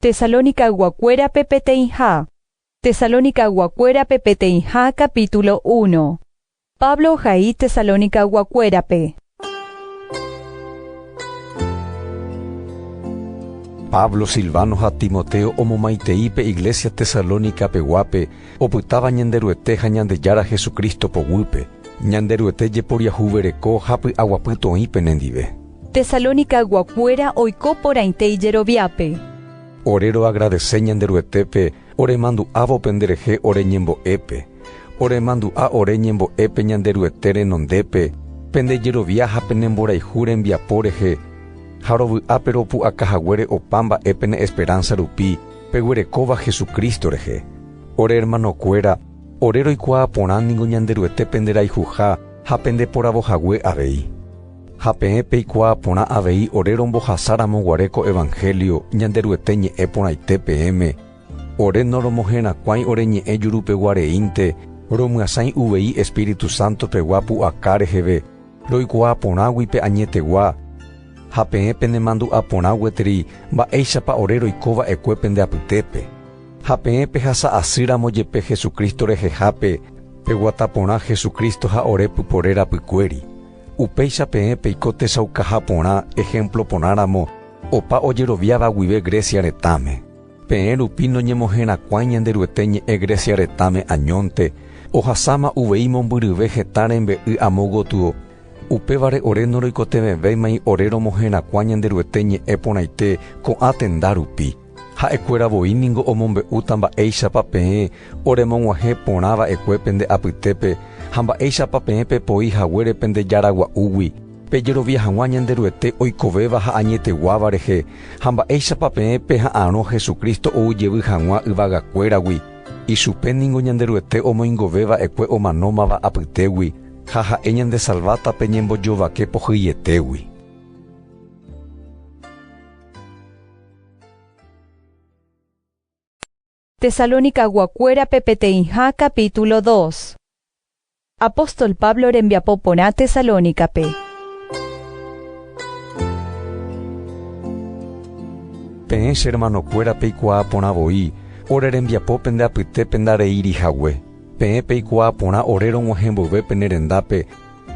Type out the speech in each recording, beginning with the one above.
Tesalónicayguakuérape peteĩha Tesalónicayguakuérape peteĩha capítulo uno Pablo ohai Tesalónicayguakuérape. Pablo, Silvano ha Timoteo omomaitei pe iglésia Tesalónica peguápe opytáva Ñanderuete ha Ñandejára Jesucristo poguýpe, Ñanderuete jeporiahuvereko ha py'aguapy toĩ penendive. Tesalónicaguakuéra oiko porãite ijeroviápe. Ore roagradese Ñanderuetépe oremandu'ávo penderehe ore ñembo'épe. Oremandu'a ore ñembo'épe Ñanderuete renondépe, pende jerovia ha pene mborayhu rembiapo rehe, ha rovy'ápe ropu'aka haguére opa mba'e pene esperánsa rupi peguerekóva Jesucristo rehe. Ore ermanokuéra, ore roikuaa porã ningo Ñanderuete penderayhuha ha pendeporavo hague avei. Ha peẽ peikuaa porã avei ore rombohasáramo guare ko evanhélio Ñanderuete ñe'ẽ porãite peẽme, ore noromoherakuãi ore ñe'ẽ jurupeguareínte, romyasãi uvei Espíritu Santo pegua pu'aka reheve, roikuaa porãgui pe añetegua. Ha peẽ penemandu'a porã gueteri mba'éichapa ore roiko va'ekue pende apytépe. Ha peẽ pehasa asýramo jepe Jesucristo rehehápe, peguata porã Jesucristo ha ore pypore rapykuéri. Upéicha peẽ peiko techaukaha porã ehémplo porãramo opa ojeroviáva guive Grecia retãme. Peẽ rupi noñemoherakuãi Ñanderuete ñe'ẽ Grecia retãme añónte, ohasáma uvei mombyryve heta rembe'y amo gotyo, upévare ore noroikotevẽvéimai ore romoherakuã Ñanderuete ñe'ẽ porãite ko'ã tenda rupi. Ha'ekuéra voi ningo omombe'úta mba'éichapa peẽ oremog̃uahẽ porã va'ekue pende apytépe ha mba'éichapa peẽ pepoi haguére pende jaragua'úgui, pejerovia hag̃ua Ñanderuete oikovéva ha añeteguáva rehe, ha mba'éichapa peẽ peha'arõ Jesucristo ou jevy hag̃ua yvagakuéragui, ichupe ningo Ñanderuete omoingove va'ekue omanómava apytégui, ha ha'e ñandesalváta pe ñembojovake pohyietégui. Tesalonicaguakuérape peteĩha capítulo 2 Apóstol Pablo rembiapo porã Tesalónicape. Peẽ che hermanokuéra peikuaa porã voi ore rembiapo pende apytépe ndareíri hague. Peẽ peikuaa porã ore rog̃uahẽ mboyve pene rendápe,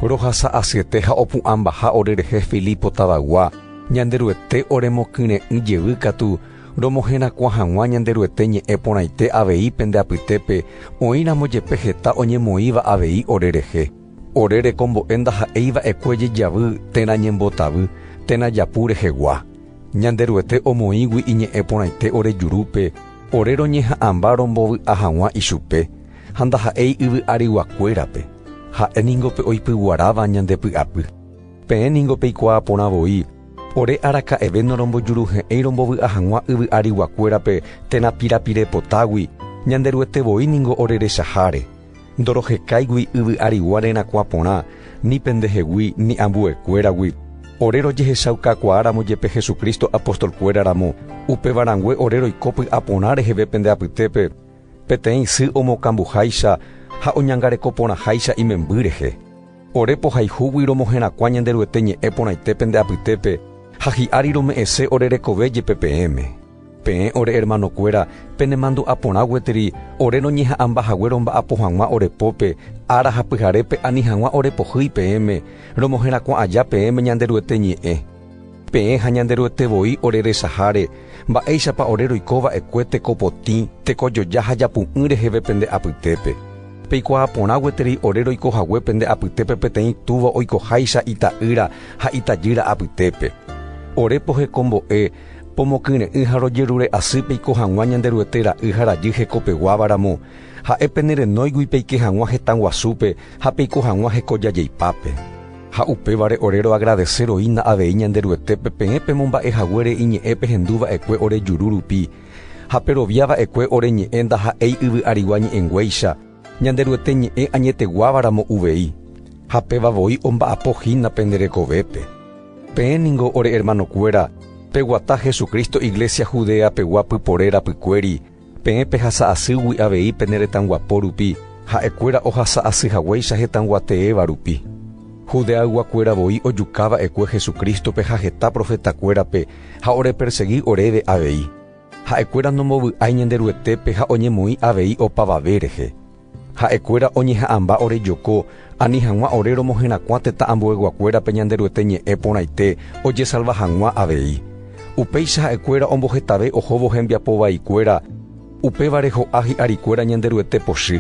Rohasa asyete ha opu'ãmbaha orerehe Filipo tavagua, Ñanderuete oremokyre'ỹ jevy katu, romoherakuã hag̃ua Ñanderuete ñe'ẽ porãite avei pende apytépe, oĩramo jepe heta oñemoĩva avei orerehe. Ore rekombo'e ndaha'éi va'ekue jejavy térã ñembotavy, térã japu rehegua. Ñanderuete omoĩgui iñe'ẽ porãite ore jurúpe, ore roñeha'ãmba rombovy'a hag̃ua ichupe. Ha ndaha'éi yvy arygua-kuérape, ha'e ningo pe oipyguaráva ñande py'apy. Peẽ ningo peikuaa porã voi, ore araka'eve norombojuruhe'ẽi rombovy'a hag̃ua yvy arygua-kuérape térã pirapire potágui, ñande Ruete voi ningo ore rechaháre. Ndorohekáigui yvy arygua rerakuã porã, ni pendehegui, ni ambuekuéragui. Ore rojehechaukakuaáramo jepe Jesucristo apóstol-kuéra ramo, upéva rangue ore roiko py'a porã reheve pende apytépe, Peteĩ sy omokambuháicha ha oñangareko porãháicha imemby rehe. Ore pohayhúgui romoherakuã Ñanderuete ñe'ẽ porãite pende apytépe ha hi'ári rome'ẽse ore rekove jepe peẽme. Peẽ ore ermanokuéra penemandu'a porã gueteri ore roñeha'ãmba hague romba'apo hag̃ua ore pópe, ára ha pyharépe ani hag̃ua ore pohýi peẽme, romoherakuã aja peẽme Ñanderuete ñe'ẽ. Peẽ ha Ñanderuete voi oreresaháre, mba'éichapa ore roiko va'ekue tekopotĩ, tekojoja ha japu'ỹ reheve pende apytépe. Peikuaa porã gueterei ore roiko hague pende apytépe peteĩ túva oikoháicha ita'ýra ha itajýra apytépe. Ore pohekombo'e, pomokyre'ỹ ha rojerure asy peiko hag̃ua Ñanderuete ra'y ha rajy hekopeguáva ramo, ha'e penerenóigui peike hag̃ua hetãguasúpe ha peiko hag̃ua hekojajeipápe. Ha upévare ore roagradeseroína avei Ñanderuetépe peẽ pemomba'e haguére iñe'ẽ pehendu va'ekue ore juru rupi, ha perovia va'ekue ore ñe'ẽ ndaha'éi yvy'arigua ñe'ẽnguéicha, Ñanderuete ñe'ẽ añeteguáva ramo uvei. Ha péva voi omba'apo hína pende rekovépe. Peẽ ningo ore ermanokuéra, peguata Jesucristo iglesia Judea pegua pypore rapykuéri, Peẽ pehasa asýgui avei pene retãguapo rupi, ha'e kuéra ohasa asy haguéicha hetãguateéva rupi. Judeaygua kuéra voi ojuka va'ekue Jesucrístope ha heta profeta kuérape ha orepersegi oréve avei. Ha'e kuéra nombovy'ái Ñanderuetépe ha oñemoĩ avei opavave rehe. Ha'ekuéra oñeha'ãmba ore joko, ani hag̃ua ore romoherakuã tetã ambueyguakuérape Ñanderuete ñe'ẽ porãite ojesalva hag̃ua avei. Upéicha ha'ekuéra ombohetave ohóvo hembiapo vaikuéra, upévare ho'a hi'arikuéra Ñanderuete pochy.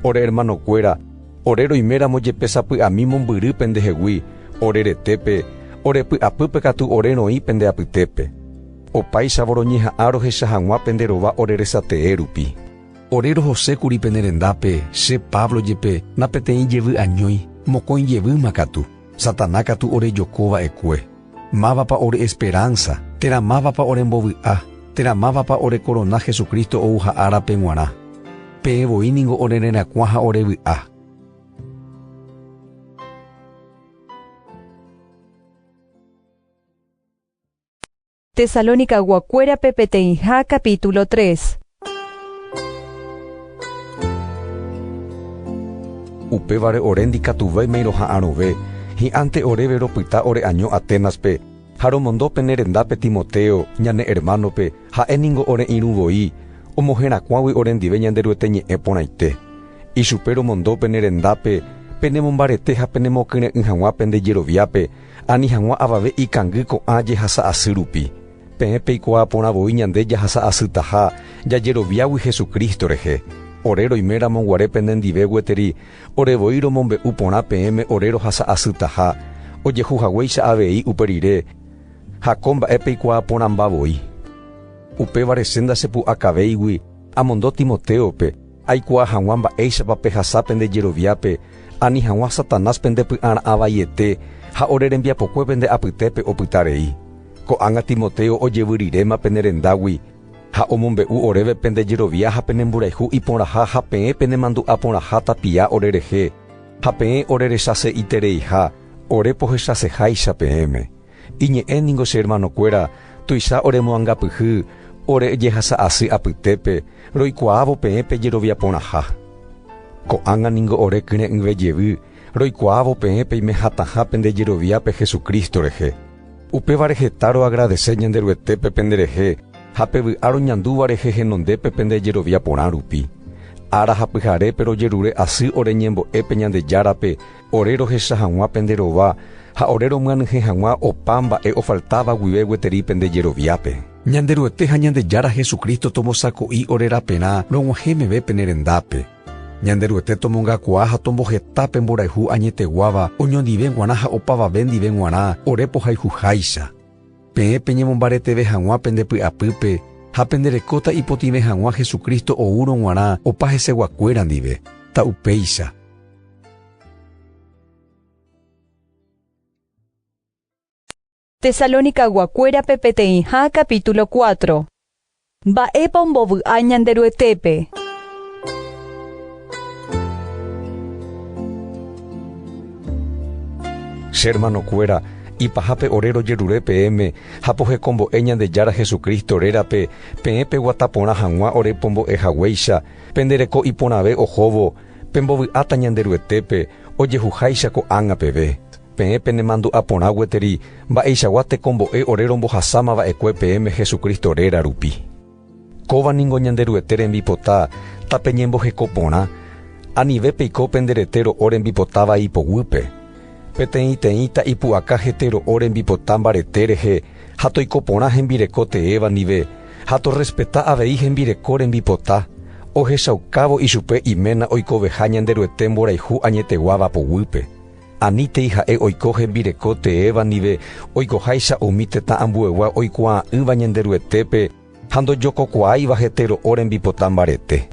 Ore ermanokuéra, ore roiméramo jepe sapy'ami mombyry pendehegui, ore retépe, ore py'apýpe katu ore roĩ pende apytépe. Opáichavo roñeha'ã rohecha hag̃ua pende rova ore resatee rupi. Ore rohose kuri pene rendápe, che Pablo jepe na peteĩ jevy añói, mokõi jevýma katu. Satanás katu orejoko va'ekue. Mávapa ore esperánsa? Térã mávapa ore mbovy'a? Térã mávapa ore korona Jesucristo ouha árape g̃uarã? Peẽ voi ningo ore rerakuã ha ore vy'a. Tesalonicaguakuérape peteĩha capítulo 3. Upévare ore ndikatuvéimai roha'arõve, hi'ãnte oréve ropyta ore año Aténaspe, ha romondo pene rendápe Timoteo, ñane ermánope, ha'e ningo ore irũ voi, omoherakuãgui orendive Ñanderuete ñe'ẽ porãite. Ichupe romondo pene rendápe, penemombarete ha penemokyre'ỹ hag̃ua pende jeroviápe, Ani hag̃ua avave ikangy ko'ã jehasa asy rupi. Peẽ peikuaa porã voi ñande jahasa asytaha jajeroviágui Jesucristo rehe. Ore roime ramo guare pene ndive gueteri, ore voi romombe'u porã peẽme ore rohasa asytaha, ojehu haguéicha avei upe rire, ha ko mba'e peikuaa porãmba voi. Upévare che ndachepu'akavéigui amondo Timotéope, Aikuaa hag̃ua mba'éichapa pehasa pende jeroviápe, ani hag̃ua Satanás pende py'ara'ã vaiete ha ore rembiapokue pende apytépe opyta rei. Ko'ág̃a Timoteo ojevyryréma pene rendágui ha omombe'u oréve pende jerovia ha pene mborayhu iporãha ha peẽ pene mandu'a porãha tapia ore rehe ha peẽ ore rechasei'tereiha ore pohechaseháicha peẽme. Iñe'ẽ ningo che hermanokuéra tuicha oremoangapyhy ore jehasa asy apytépe roikuaávo peẽ pe jerovia porãha. Ko'ág̃a ningo ore kyre'ỹve jevy roikuaávo peẽ peime hatãha pende jeroviápe Jesucristo rehe. Upévare heta roagradese Ñanderuetépe penderehe ha pe vy'a roñandúva rehe henondépe pende jerovia porã rupi. Ára ha pyharépe rojerure asy ore ñembo'e pe Ñandejárape Ore rohecha hag̃ua pende rova ha ore romyanyhẽ hag̃ua opa mba'e ofaltáva guive gueteri pende jeroviápe. Ñanderuete ha Ñandejára Jesucristo tomosako'i ore raperã rog̃uahẽ meve pene rendápe. Ñanderuete tomongakuaa ha tomboheta pe mborayhu añeteguáva oñondive g̃uarã ha opavave ndive g̃uarã ore pohayhuháicha. Peẽ peñemombareteve hag̃ua pende py'apýpe ha penderekóta ipotĩve hag̃ua Jesucristo oúrõ g̃uarã opa heseguakuéra ndive, ta upéicha. Tesalonicaguakuérape peteĩha capítulo 4 Mba'épa ombovy'a Ñanderuetépe? Che hermanokuéra, ipahápe ore rojerure peẽme ha pohekombo'e Ñandejára Jesucristo rérape peẽ peguata porã hag̃ua ore pombo'e haguéicha, pende reko iporãve ohóvo, Pembovy'áta Ñanderuetépe ojehuháicha ko'ág̃a peve, peẽ penemandu'a porã gueteri mba'eichagua tekombo'e ore rombohasáma va'ekue peẽme Jesucristo réra rupi. Kóva ningo Ñanderuete rembipota tapeñemboheko porã, anive peiko pende rete ro'o rembipotáva ipoguýpe. Peteĩteĩta ipu'aka hetero'o rembipota mbarete rehe ha toiko porã hembireko teéva ndive ha torrespeta avei hembireko rembipota, ohechaukávo ichupe iména oikoveha Ñanderuete mborayhu añeteguáva poguýpe. Anítei ha'e oiko hembireko teéva ndive oikoháicha umi tetã ambuegua oikuaa'ỹva Ñanderuetépe, ha ndojokokuaáiva hete ro'o rembipota mbarete.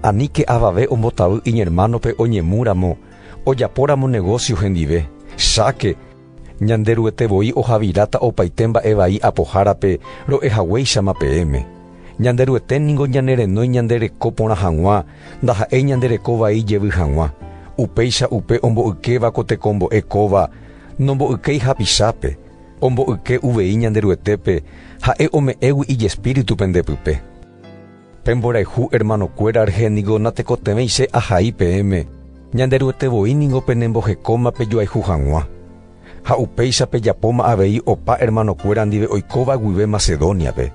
Aníke avave ombotavy iñermánope oñemu ramo, ojapo ramo negósio hendive, cháke, Ñanderuete voi ohaviráta opaite mba'e vai apohárape ro'e haguéichama peẽme. Ñanderuete ningo ñanerenói ñande reko porã hag̃ua, ndaha'éi ñande reko vai jevy hag̃ua. Upéicha upe ombo'ykéva ko tekombo'e kóva, nombo'ykéi hapichápe. Omboyke uvei Ñanderuetépe Ha'e ome'ẽgui ijespíritu pende pype. Pemborayhu ermanokuéra rehe ningo natekotevẽi che ahai peẽme, Ñanderuete voi ningo penembohekóma pejoayhu hag̃ua. Ha upéicha pejapóma avei opa ermanokuéra ndive oikóva guive Macedóniape.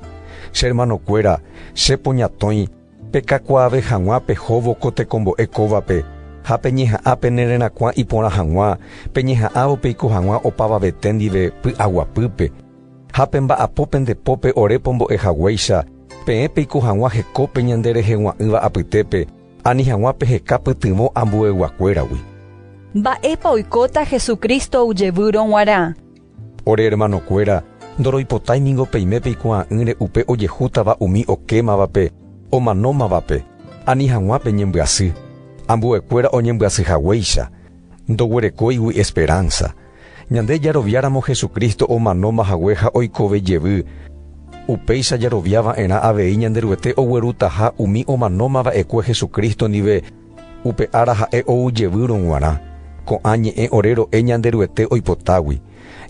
Che ermanokuéra, che poñatõi. Pekakuaave hag̃ua pehóvo ko tekombo'e kóvape, ha peñeha'ã penererakuã iporã hag̃ua, peñeha'ãvo peiko hag̃ua opavavete ndive py'aguapýpe. Ha pemba'apo pende pópe ore pombo'e haguéicha, peẽ peiko hag̃ua hekópe ñande rehegua'ỹva apytépe, ani hag̃ua peheka pytyvõ ambueyguakuéragui. Mba'épa oikóta Jesucristo ojevýrõ g̃uarã? Ore ermanokuéra, ndoroipotái ningo peime peikuaa'ỹre upe ojehútava umi okémavape omanómavape ani hag̃ua peñembyasy, ambuekuéra oñembyasy haguéicha. Ndoguerekóigui esperánsa. Ñande jaroviáramo Jesucristo omanóma hague ha oikove jevy, upéicha jarovia va'erã avei Ñanderuete oguerutaha umi omanóma va'ekue Jesucristo ndive, Upe ára ha'e ou jevýrõ g̃uarã, ko'ã ñe'ẽ ore ro'e Ñanderuete oipotágui.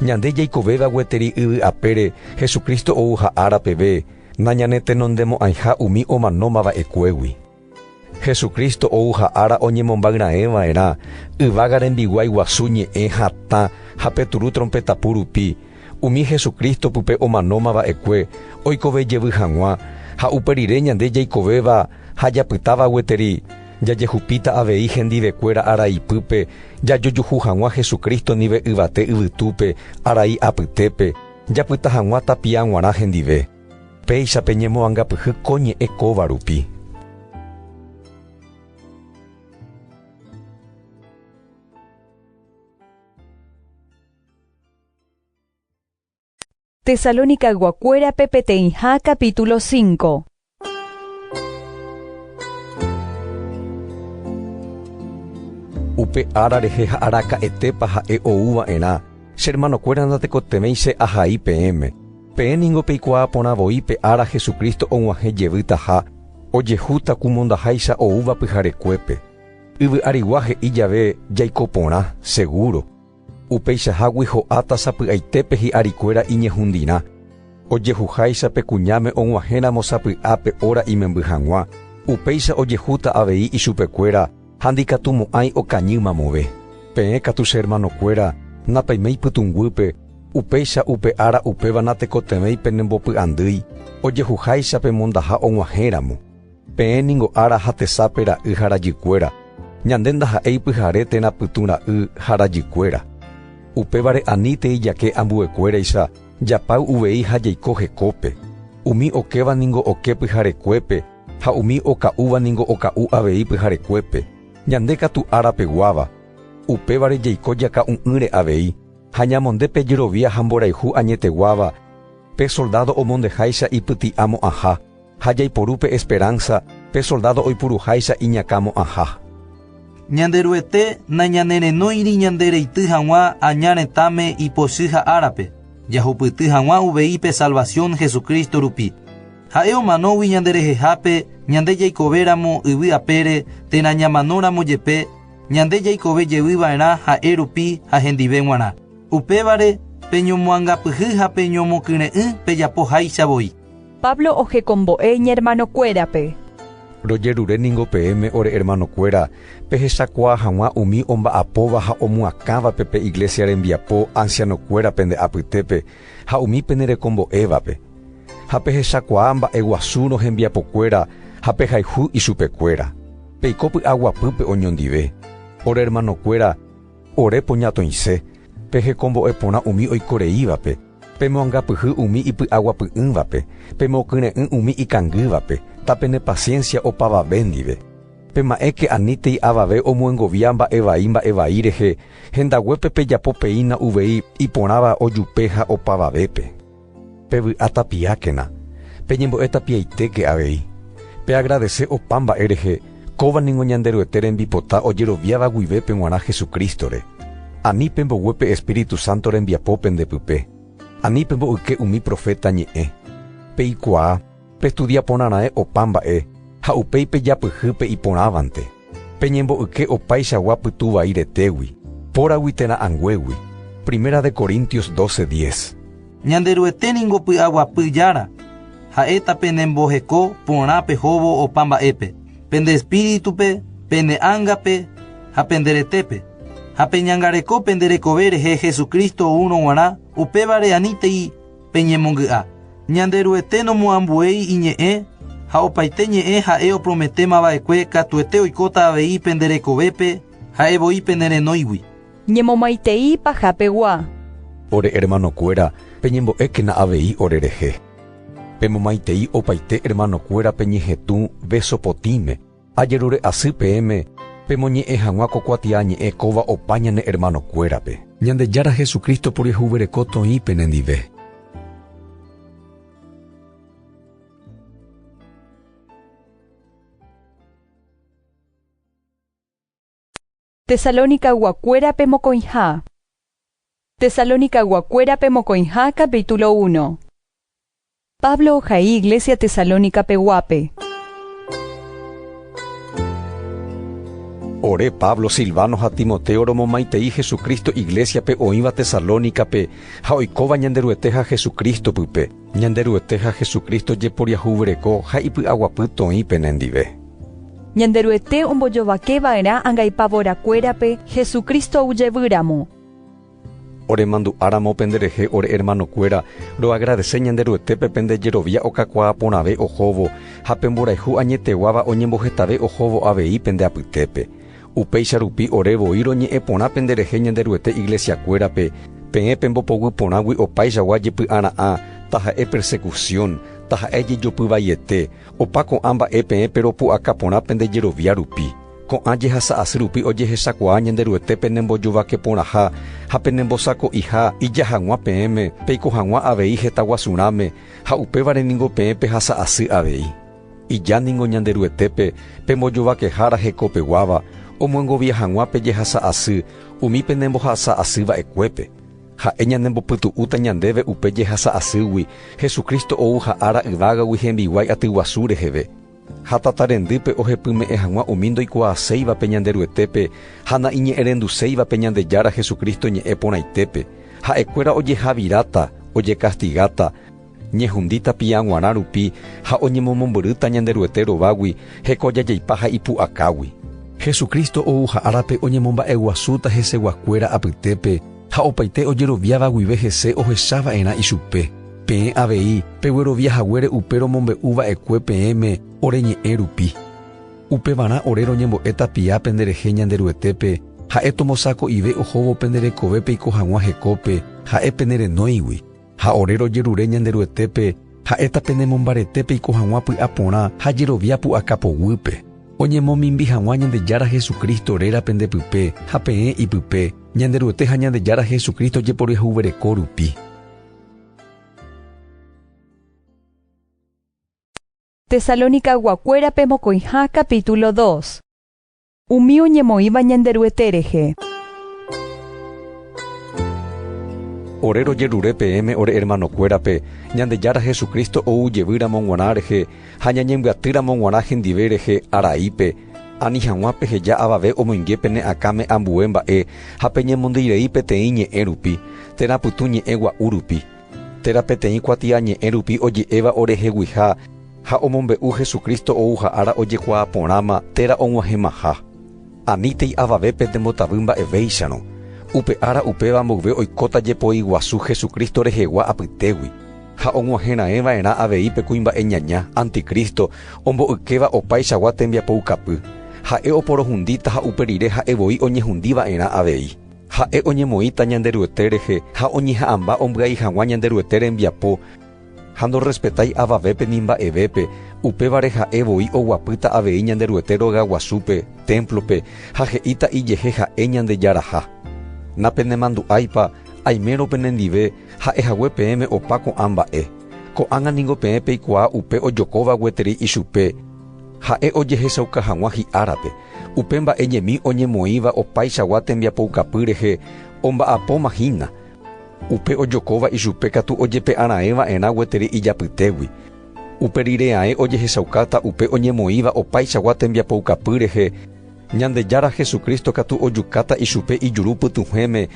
Ñande jaikovéva gueteri yvy apére Jesucristo ouha ára peve nañanetenondemo'ãiha umi omanóma va'ekuégui. Jesucristo ouha ára oñemombáy raẽ va'erã yvága rembiguái guasu ñe'ẽ hatã ha peturu trompetapu rupi, Umi Jesucristo pype omanóma va'ekue oikove jevy hag̃ua ha upe rire ñande jaikovéva ha japytáva gueteri, jajehupíta avei hendivekuéra araipýpe jajojuhu hag̃ua Jesucristo ndive yvate yvytúpe arai apytépe, japyta hag̃ua tapia g̃uarã hendive. Péicha peñemoangapyhy ko ñe'ẽ kóva rupi. Tesalónicayguakuérape peteĩha capítulo 5. Upe ára rehe ha araka'etépa ha'e ou va'erã, che hermanokuéra ndatekotevẽi che ahai peẽme. Peẽ ningo peikuaa porã voi pe ára Jesucristo og̃uahẽ jevýtaha, ojehúta ku mondaháicha oúva pyharekuépe. Yvy'arigua he'i jave jaiko porã, segúro. Upeichahágui ho'áta sapy'aitépe hi'arikuéra iñehundirã, ojehuháicha pe kuñáme og̃uahẽramo sapy'ápe óra imemby hag̃ua, upéicha ojehúta avei ichupekuéra ha ndikatu mo'ãi okañy mamove. Peẽ katu che ermanokuéra, napaiméi pytũnguýpe, upéicha upe ára upéva natekotevẽi penembopy'andýi, ojehuháicha pemondaha og̃uahẽramo. Peẽ ningo ára ha tesape ra'y ha rajykuéra, ñande ndaha'éi pyhare térã pytũ ra'y ha rajykuéra. Upévare anítei jake ambuekuéraicha japáy uvei ha jaiko hekópe, umi okéva ningo oke pyharekuépe ha umi oka'úva ningo oka'u avei pyharekuépe, ñande katu ára peguáva. Upévare jaiko jaka'u'ỹre avei ha ñamonde pe jerovia ha mborayhu añeteguáva pe soldádo omondeháicha ipyti'amo'ãha. ha jaiporu pe esperánsa pe soldádo oipuruháicha iñakãmo'ãha. Ñanderuete nañanerenóiri ñande reity hag̃ua aña retãme ipochy ha árape, jahupyty hag̃ua uvei pe salvasión Jesucristo rupi. Ha'e omanógui ñanderehehápe ñande jaikovéramo yvy apére térã ñamanóramo jepe ñande jaikove jevy va'erã ha'e rupi ha hendive g̃uarã. Upévare, peñomoangapyhy ha peñomokyre'ỹ pejapo háicha voi. Pablo ojekombo'e iñermanokuérape. Rojerure ningo peẽme ore ermanokuéra, pehechakuaa hag̃ua umi omba'apóva ha omoakãvape pe iglésia rembiapo ansianokuéra pende apytépe ha umi penerekombo'évape. Ha pehechakuaa mba'e guasúrõ hembiapokuéra ha pehayhu ichupekuéra. Peiko py'aguapýpe oñondive. Ore ermanokuéra, ore poñatõise, pejekombo'e porã umi oiko reívape. Pemoangapyhy umi ipy'aguapy'ỹvape, pemokyre'ỹ umi ikangývape, tapenepasiénsia opavave ndive. Pema'ẽke anítei avave omyengovia mba'e vai mba'e vai rehe, hendaguépe pejapo peína uvei iporãva ojupe ha opavavépe. Pevy'a tapiákena, peñembo'e tapiaitéke avei. Peagradese opa mba'e rehe, Kóva ningo Ñanderuete rembipota ojeroviáva guive pe g̃uarã Jesucristo-re. Ani pembogue pe Espíritu Santo rembiapo pende pype. Ani pemboyke umi profeta ñe'ẽ. Peikuaa, pestudia porã raẽ opa mba'e, ha upéi pejapyhy pe iporãvante. Peñemboyke opaichagua pytu vai retégui, póragui térã anguégui. Primera de Corintios doce diez. Ñanderuete ningo py'aguapy Jára, ha'éta penemboheko porã pehóvo opa mba'épe, pende espíritupe, pene ángape ha pende retépe, ha peñangareko pende rekove rehe Jesucristo oúrõ g̃uarã, upévare anítei peñemongy'a. Ñanderuete nomoambuéi iñe'ẽ ha opaite ñe'ẽ ha'e oprometémava'ekue katuete oikóta avei pende rekovépe ha'e voi penerenóigui. Ñemomaitei pajapegua. Ore ermanokuéra, peñembo'ékena avei orerehe. Pemomaitei opaite ermanokuéra peñehetũ véso potĩme. Ajerure asy peẽme pemoñe'ẽ hag̃ua ko kuatiañe'ẽ kóva opa ñane ermanokuérape. Ñandejára Jesucristo puryehuvereko toĩ penendive. Tesalónicayguakuérape mokõiha Tesalónicayguakuérape mokõiha capítulo uno Pablo ohai iglesia Tesalónicapeguápe. Ore, Pablo, Silvano ha Timoteo romomaitei Jesucristo iglesia-pe oĩva Tesalónicape ha oikóva Ñanderuete ha Jesucristo pype. Ñanderuete ha Jesucristo jeporiahuvyreko ha ipy'aguapy toĩ pene ndive. Ñanderuete ombojovake va'erã angaipavora kuérape Jesucristo oujevy ramo. Ore mandu'a ramo pende rehe ore hermano kuéra, roagradese Ñanderuetépe pende jerovia okakuaa porãve ohóvo ha pe mborayhu añeteguáva oñembohetave ohóvo avei pende apytépe. Upéicha rupi ore voi roñe'ẽ porã penderehe Ñanderuete iglesiakuérape, peẽ pembopoguy porãgui opaichagua jepy'ara'ã, taha'e persekusión, taha'e jejopy vaiete, opa ko'ã mba'e peẽ peropu'aka porã pende jerovia rupi. Ko'ã jehasa asy rupi ojehechakuaa Ñanderuete penembojovake porãha ha penembosako'iha ija hag̃ua peẽme peiko hag̃ua avei heta guasurãme, ha upévare ningo peẽ pehasa asy avei. Ija ningo Ñanderuetépe pembojovakehára hekopeguáva omyengovia hag̃ua pe jehasa asy umi penembohasa asy va'ekuépe. Ha'e ñanembopytu'úta ñandéve upe jehasa asýgui Jesucristo ouha ára yvágagui hembiguái atyguasu reheve. Ha tata rendýpe ohepyme'ẽ hag̃ua umi ndoikuaaséivape Ñanderuetépe ha na'iñe'ẽrenduséivape Ñandejára Jesucristo ñe'ẽ porãitépe, ha'ekuéra ojehaviráta, ojekastigáta, Ñehundi tapiã g̃uarã rupi ha oñemomombyrýta Ñanderuete rovágui heko jajaipa ha ipu'akágui. Jesucristo ouha árape oñemomba'eguasúta heseguakuéra apytépe ha opaite ojeroviáva guive hese ohecha va'erã ichupe. Peẽ avei peguerovia haguére upe romombe'u va'ekue peẽme ore ñe'ẽ rupi. Upevarã ore roñembo'e tapia pende rehe Ñanderuetépe, ha'e tomosako'ive ohóvo pende rekove peiko hag̃ua hekópe, ha'e pene renóigui. Ha ore rojerure Ñanderuetépe, ha'éta penemombarete peiko hag̃ua py'a porã ha jerovia pu'aka poguýpe, oñemomimbi hag̃ua Ñandejára Jesucristo réra pende pype ha peẽ ipype, Ñanderuete ha Ñandejára Jesucristo jeporiahuvereko rupi. Tesalonicaguakuérape mokõiha capítulo dos. Umi oñemoĩva Ñanderuete rehe. Ore rojerure peẽme ore ermanokuérape, Ñandejára Jesucristo ou jevy ramo g̃uarã rehe ha ñañembyaty ramo g̃uarã hendive rehe araípe, ani hag̃ua peheja avave omoinge pene akãme ambue mba'e ha peñemondýi rei peteĩ ñe'ẽ rupi, térã pytũ ñe'ẽ gua'u rupi. Térã peteĩ kuatiañe'ẽ rupi oje'éva oreheguiha ha omombe'u Jesucristo ouha ára ojekuaa porãma térã og̃uahẽmaha. Anítei avavépe nembotavy mba'evéicharõ, upe ára upéva mboyve oikóta jepoiguasu Jesucristo rehegua apytégui, ha og̃uahẽraẽva'erã avei pe kuimba'e ñaña, anticristo, ombo'ykéva opaichagua tembiapoukapy. Ha'e oporohundíta ha upe rire ha'e voi oñehundiva'erã avei. Ha'e oñemoĩta Ñanderuete rehe ha oñeha'ãmba ombyai hag̃ua Ñanderuete rembiapo, ha ndorrespetái avavépe ni mba'evépe, upévare ha'e voi oguapýta avei Ñanderuete rogaguasúpe, témplope, ha he'íta ijehe ha'e Ñandejaraha. Napenemandu'áipa, aimérõ penendive, ha'e hague peẽme opa ko'ã mba'e. Ko'ág̃a ningo peẽ peikuaa upe ojokóva gueteri ichupe, ha'e ojehechauka hag̃ua hi'árape. Upe mba'e ñemi oñemoĩva opaichagua tembiapoukapy rehe omba'apóma hína, upe ojokóva ichupe katu ojepe'arãe va'erã gueteri ijapytégui. Upe rire ae ojehechaukáta upe oñemoĩva opaichagua tembiapoukapy rehe, Ñandejára Jesucristo katu ojukáta ichupe ijuru pytũhẽme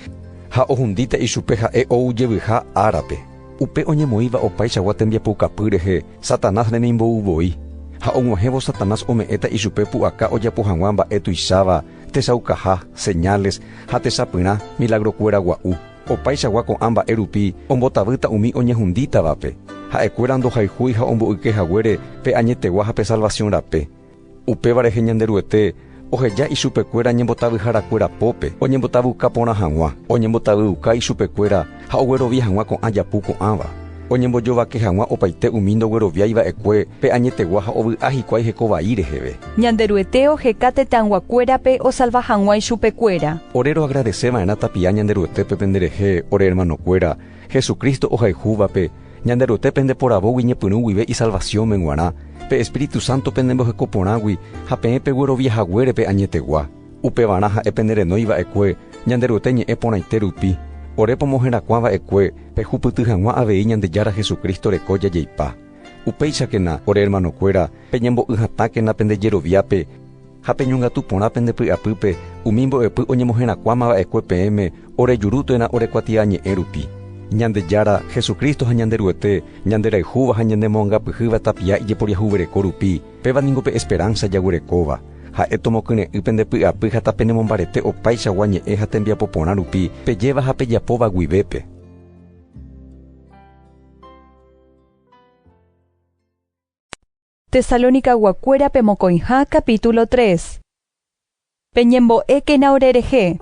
ha ohundíta ichupe ha'e oujevyiha árape. Upe oñemoĩva opaichagua tembiapoukapy rehe Satanás remimbo'u voi, ha og̃uahẽvo Satanás ome'ẽta ichupe pu'aka ojapo hag̃ua mba'e tuicháva, tesaukaha, señales, ha techapyrã, milagrokuéra gua'u. Opaichagua ko'ã mba'e rupi ombotavýta umi oñehundítavape. Ha'ekuéra ndohayhúi ha omboyke haguére pe añetegua ha pe salvasiõ rape. Upéva rehe Ñanderuete oheja ichupekuéra ñembotavyharakuéra pópe oñembotavyuka porã hag̃ua, oñembotavyuka ichupekuéra ha oguerovia hag̃ua ko'ã japu ko'ãva, oñembojovake hag̃ua opaite umi ndogueroviái va'ekue pe añetegua ha ovy'a hikuái heko vai reheve. Ñanderuete oheka tetãyguakuérape osalva hag̃ua ichupekuéra. Ore roagradese va'erã tapia Ñanderuetépe penderehe ore ermanokuéra Jesucristo ohayhúvape Ñanderuete pende poravógui ñepyrũ guive isalvaciónme g̃uarã, pe Espíritu Santo penemboheko porãgui ha peẽ peguerovia haguérepe añetegua, upevarã ha'e pene renói va'ekue Ñanderuete ñe'ẽ porãite rupi, ore pomoherakuã va'ekue pehupyty hag̃ua avei Ñandejára Jesucristo reko jajeipa. Upéichakena, ore hermanokuéra, peñembo'y hatãkena pende jeroviápe, Ha peñongatu porã pende py'apýpe umi mbo'epy oñemoherakuãma va'ekue peẽme ore juru térã ore kuatia ñe'ẽ rupi. Ñandejára, Jesucristo ha Ñanderuete, ñanderayhúva ha ñanemoangapyhýva tapia ijeporiahuvereko rupi, péva ningo pe esperánsa jaguerekóva. Ha'e tomokyre'ỹ pende py'apy ha tapenemombarete opaichagua ñe'ẽ ha tembiapo porã rupi pejéva ha pejapóva guivépe. Tesalonicaguakuéra pe mokõiha capítulo 3 Peñembo'ékena orerehe.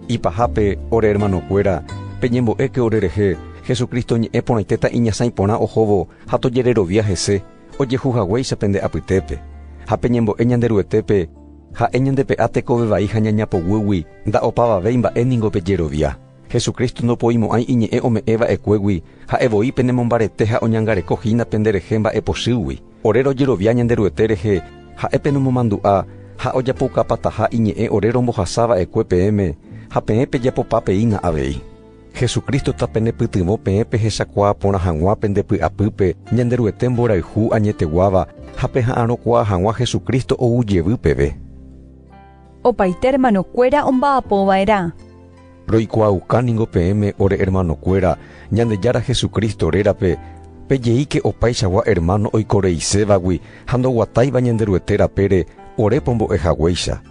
Ipahápe, ore hermanokuéra, peñembo'éke orerehe, Jesucristo ñe'ẽ porãitéta iñasãi porã ohóvo ha tojererovia hese, ojehu haguéicha pende apytépe. Ha peñembo'e Ñanderuetépe, ha'e ñandepe'a tekove vai ha ñañapoguýgui, nda'opavavéi mba'e ningo pejerovia. Jesucristo ndopoimo'ãi iñe'ẽ ome'ẽ va'ekuégui, ha'e voi penemombarete ha oñangareko hína pende rehe mba'epochýgui. Ore rojerovia Ñanderuete rehe, Ha'e penomomandu'a, ha ojapoukapataha iñe'ẽ ore rombohasa va'ekue peẽme, ha peẽ pejapopa peína avei. Jesucristo ta penepytyvõ peẽ pehechakuaa porã hag̃ua pende py'apýpe Ñanderuete mborayhu añeteguáva ha peha'arõkuaa hag̃ua Jesucristo ou jevy peve. Opaite ermanokuéra omba'apova'erã. Roikuaauka ningo peẽme ore ermanokuéra Ñandejára Jesucristo rérape, pejeíke opaichagua ermáno oikoreisévagui ha ndoguatáiva Ñanderuete rapére ore pombo'e haguéicha.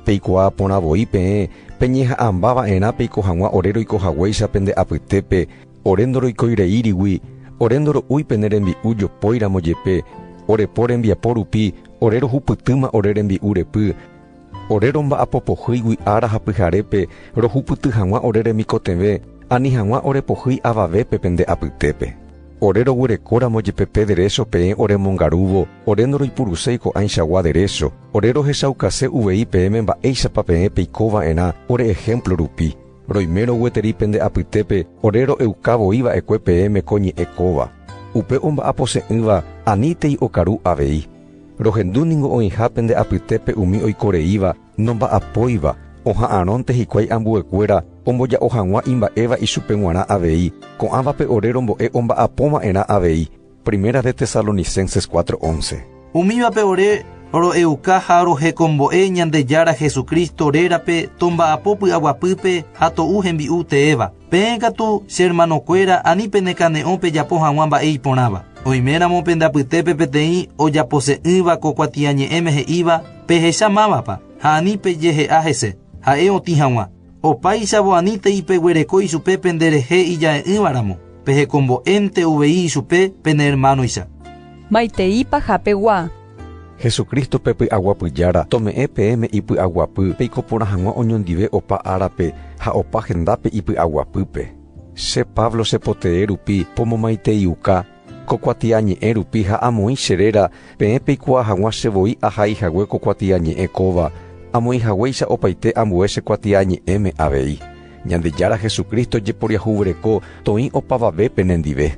Peikuaa porã voi peẽ peñeha'ãmba va'erã peiko hag̃ua ore roiko haguéicha pende apytépe, ore ndoroikói reírigui, ore ndoro'úi pene rembi'u jopóiramo jepe, ore po rembiapo rupi ore rohupytýma ore rembi'u repy, Ore romba'apo pohýigui ára ha pyharépe, rohupyty hag̃ua ore remikotevẽ, ani hag̃ua ore pohýi avavépe pende apytépe. Ore roguerekóramo jepe pe derécho peẽ oremongarúvo, ore ndoroipuruséi ko'ãichagua derécho, ore rohechaukase uvei peẽme mba'éichapa peẽ peiko va'erã ore ehémplo rupi. Roimérõ gueteri pende apytépe ore ro'euka voi va'ekue peẽme ko ñe'ẽ kóva. Upe omba'apose'ỹva aníntei okaru avei. Rohendu ningo oĩha pende apytépe umi oiko reíva nomba'apóiva, oha'arõnte hikuái ambuekuéra omboja'o hag̃ua imba'éva ichupe g̃uarã avei, ko'ãvape ore rombo'e omba'apóva'erã avei. Primera de Tesalonicenses cuatro once. Umívape ore ro'euka ha rohekombo'e Ñandejára Jesucristo rérape tomba'apo py'aguapýpe ha to'u hembi'u teéva. Peẽ katu, che hermanokuéra, ani penekane'õ pejapo hag̃ua mba'e iporãva. Oiméramo pende apytépe peteĩ ojapose'ỹva ko kuatiañe'ẽme he'íva, Pehecha mávapa, ha ani pejehe'a hese, ha'e otĩ hag̃ua. Opáichavo anítei peguereko ichupe penderehe ija'e'ỹva ramo, pehekombo'énte uvei ichupe pene hermanoicha. Maiteipa japegua. Jesucristo pe py'aguapy Jára, tome'ẽ peẽme ipy'aguapy, peiko porã hag̃ua oñondive opa árape ha opa hendápe ipy'aguapýpe. Che Pablo chepotee rupi pomomaiteiuka ko kuatiañe'ẽ rupi ha amoĩ che réra peẽ peikuaa hag̃ua che voi ahai hague ko kuatiañe'ẽ kóva, amoĩ haguéicha opaite ambue che kuatiañe'ẽme avei. Ñandejára Jesucristo jeporiahuvereko toĩ opavave penendive.